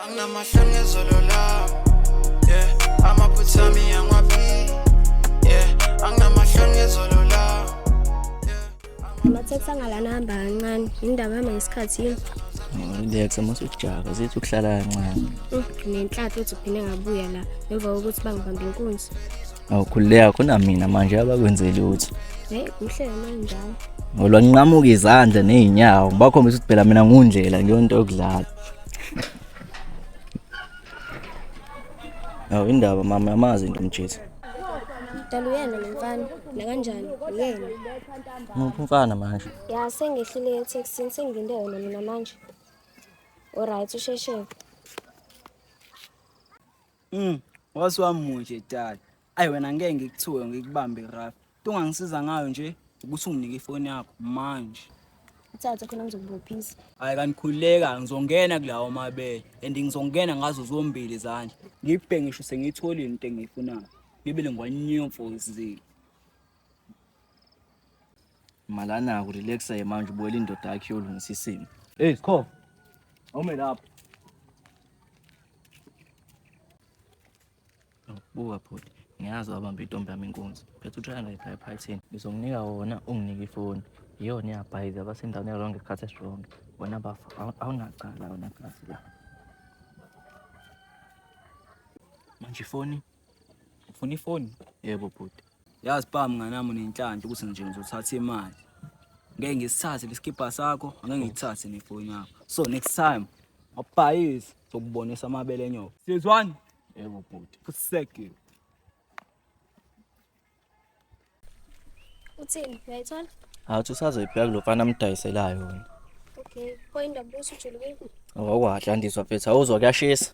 anginamahloni ezolo lami yeah amaphutha ami angwabi yeah anginamahloni ezolo lami amatheksi angalana hamba kancane indaba yami ngesikhathi yini Relax uma usujaka zithi ukuhlala kancane. Mm, Nenhlanhla uthi uphinde ngabuya la emva kokuthi bangibambe inkunzi. Awukhululeka khona mina manje abakwenzeli uthi. Hey, kuhle manjalo. Ngolwa nqamuka izandla nezinyawo ngibakhombisa ukuthi phela mina ngundlela ngiyonto yokudlala. Awu indaba mama yamazi into mjezi. Dala uyena lo mfana nakanjani uyena. Ngiphi umfana manje? Ya sengehlile etaxini sengilinde wena mina manje. Alright usheshe. Mm, wasiwamunje dala. Ayi wena ngeke ngikuthiwe ngikubambe rough. Into ongangisiza ngayo nje ukuthi unginike ifoni yakho manje. Thatha khona ngizokubophisa. Hayi kanikhululeka ngizongena kulawo mabele and ngizongena ngazo zombili izandla. Ngibhe ngisho sengiyitholile into engiyifunayo. Ngibele ngwanyomfo zile. Malana ku relaxa ye manje ubuyela indoda yakhe yolungisa isimo. Hey Skho. Awume lapho. Buka bhuti, ngiyazi wabamba intombi yami inkunzi. Phetha uthaya ngayipha ephathini. Ngizomnika wona unginike ifoni. Yiyona iyabhayiza abasendaweni yalonke isikhathi esironge. Wena bafa awunacala wena kazi la. Manje ifoni? Ufuna ifoni? Yebo bhuti. Yazi bam nganami unenhlanhla ukuthi nje ngizothatha imali. Ngeke ngisithathe lesikibha sakho, angeke ngithathe nefoni yakho. So next time awubhayisi zokubonisa amabele enyoka. Sizwani? Yebo bhuti. Kuseke. Uthini? Uyayithola? Awuthi usazoyibheka lo mfana amdayiselayo wena. Okay. Point of busu julu. Awukwahla ndizwa mfethu awuzwa kuyashisa.